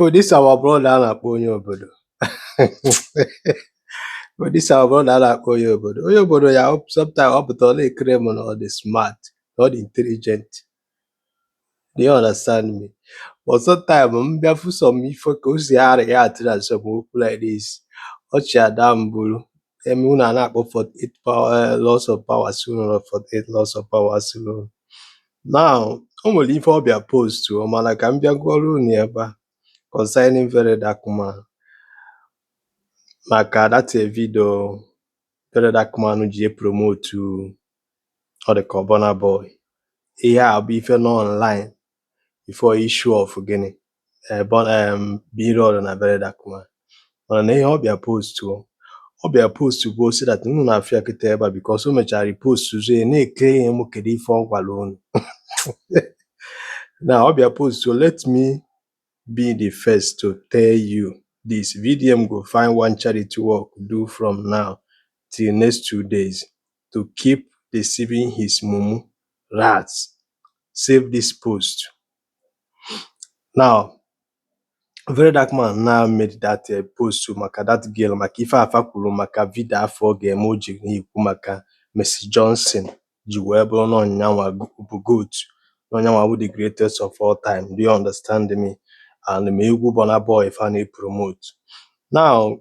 So oh, this our brother a na-akpọ onye obodo. So oh, this our brother a na-akpọ onye obodo. Onye obodo ya sometimes ọ pụta ọ na-eclaim na ọ dị smart, na ọ dị intelligent. Do you understand me? But sometimes m bịa fụ some ife ka o si areact na some okwu like this, ọchị ada m bụrụ Eme unu a na-akpọ 48 power eh, laws of power si unu rụrụ 48 laws of power si unu now o nwere ife ọ bịa postụọ mana ka m bịa gụọrọ unu ya ebe a concerning very dark man maka that video very dark man ji epromotu ọ dị ka Burna Boy ihe a bụ ife nọ online before issue of gịnị ee B em Blord na very dark man mana na ihe ọ bịa postụọ ọ bịa postụ bụ ọ sị that unu na-afụ ya kịta ebe a because o mechara repostụọ ya na-eclaim kedu ife ọ gwara unu now ọ bịa postụọ let me be the first to tell you this vdm go find one charity work do from now till next two days to keep deceiving his mumu rats save this post now very dark man now made that uh, post maka that girl maka ife afụ a kwuru maka video afụ ọ ga-eme o ji na-ekwu maka Mercy Johnson ji wee bụrụ na ọ nya nwa bụ goat na ọ nya nwa bụ the greatest of all time do you understand me and ma egwu Burna Boy fa na-epromote now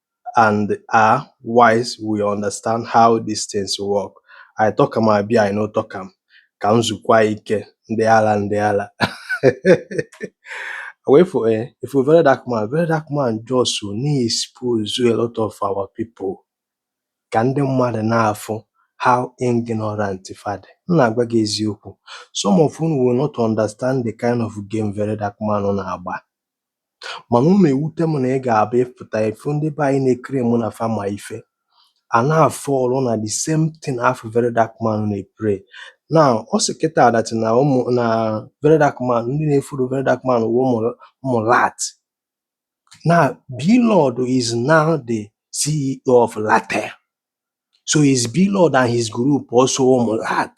and are wise will understand how these things work. I talk am abi I no talk am ka m zukwa ike ndị ala ndị ala wait for eh, ị fụ very dark man very dark man just na-expose a lot of our people ka ndị mmadụ na-afụ how ignorant fa dị m na-agwa gị eziokwu some of unu will not understand the kind of game very dark man na-agba Mana ọ na-ewute m na ị ga-abịa ị pụta ị fụ ndị be anyị na-eclaim na fa ma ife a na-afall na the same thing afụ Very Dark Man na-eplay. Now ọ sị kịta that na ụmụ na Very Dark Man ndị na-efollow Very Dark Man wụ mumu rat. Now Blord is now the CEO of Ratel. So is Blord and his group also mumu rat?